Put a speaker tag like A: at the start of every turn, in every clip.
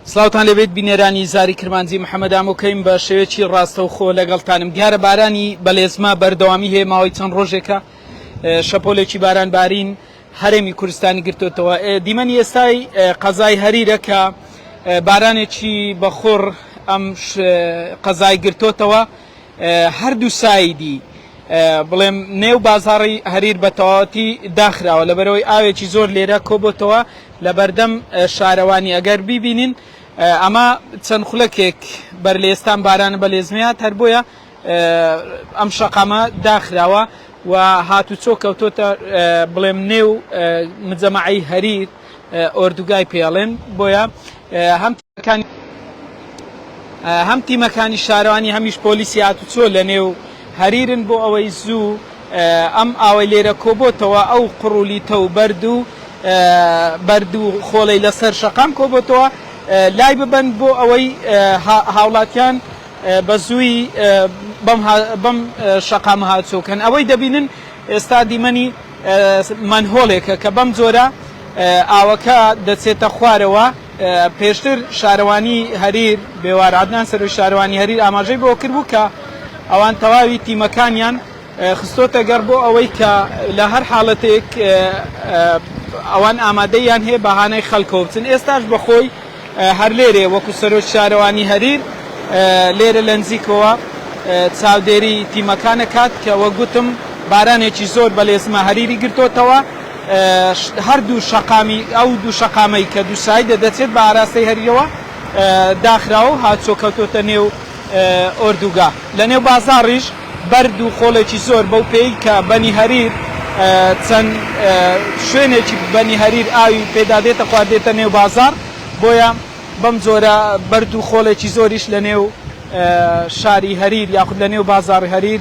A: سلاوتان لەبێت بینێرانی زاری کرمانجی محەممەد ئامۆکەیم بە شێوێکی ڕاستەوخۆ لەگەڵتانم دیارە بارانی بەلێزما بەردەوامی هەیە ماوەی چەند ڕۆژێکە شەپۆلێکی باران بارین هەرێمی کوردستانی گرتوتەوە دیمەنی ئێستای قەزای هەریرە کە بارانێکی بەخۆڕ ئەم قەزای گرتوتەوە هەردوو سایدی بڵێم نێو بازاڕی هەریر بە تەواوەتی داخراوە لەبەرەوەی ئاوێکی زۆر لێرە کۆبۆتەوە لە بەردەم شارەوانی ئەگەر بیبینین ئەمە چەند خولەکێک بەر لە ئێستان بارانە بە لێزمیات هەر بۆیە ئەم شەقامە داخراوە و هاتوچۆ کەوتۆتە بڵێم نێو مجەمەعی هەریر ئۆردوگای پێڵێن بۆیە هەم هەم تیمەکانی شارەوانی هەمیش پۆلیسی هاتوچۆ لە نێو هەریرن بۆ ئەوەی زوو ئەم ئاوەی لێرە کۆبۆتەوە ئەو قڕولیتە و بەرد و بەرد و خۆڵەی لەسەر شەقام کۆبۆتەوە لای ببەن بۆ ئەوەی هاوڵاتیان بە زووی بەم شەقام هاتوچۆکەن ئەوەی دەبینن ئێستا دیمەنی مەنهۆڵێکە کە بەم جۆرە ئاوەکە دەچێتە خوارەوە پێشتر شارەوانی هەریر بێوار عەدنان سەرۆک شارەوانی هەریر ئاماژەی بەوە کردبوو کە ئەوان تەواوی تیمەکانیان خستۆتە گەڕ بۆ ئەوەی کە لە هەر حاڵەتێک ئەوان ئامادەیان هەیە بە هانای خەلکەوە بچن ئێستاش بەخۆی هەر لێرێ وەکو سەرۆک شارەوانی هەریر لێرە لە نزیکەوە چاودێری تیمەکانە کات کە وەگوتم بارانێکی زۆر بەلێزمە هەریری گرتۆتەوە هەر دوو شەقامی ئەو دوو شەقامەی کە دوو سایدە دەچێت بە ئاراستەی هەریەوە داخراوە و هاتچۆ کەوتۆتە نێو ئۆردوگا. لە نێو بازاڕیش بەرد و خۆڵێکی زۆر بەو پێی کە بەنی هەریر چەند شوێنێکی بەنی هەریر ئاوی پێدا دێتە خوار دێتە نێو بازاڕ بۆیە بەم جۆرە بەرد و خۆڵێکی زۆریش لە نێو شاری هەریر یاخود لە نێو بازاڕی هەریر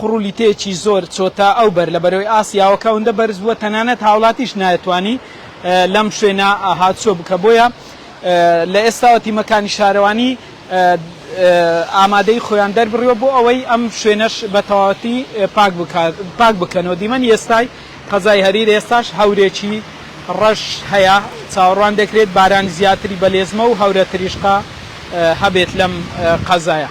A: قوڕولیتەیەکی زۆر چۆتە ئەو بەر لە بەرەی ئاسیاوە کە ئەوندە بەرز بووە تەنانەت هاوڵاتیش نایەتوانی لەم شوێنە هاتچۆ بکە بۆیە لە ئێستاوە تیمەکانی شارەوانی ئامادەیی خۆیان دەربڕیوە بۆ ئەوەی ئەم شوێنەش بە تەواوەتی پاک بکات پاک بکەنەوە دیمەنی ئێستای قەزای هەریر ئێستاش هەورێکی ڕەش هەیە، چاوەڕوان دەکرێت بارانی زیاتری بەلێزمە و هەورە تریشقە هەبێت لەم قەزایە.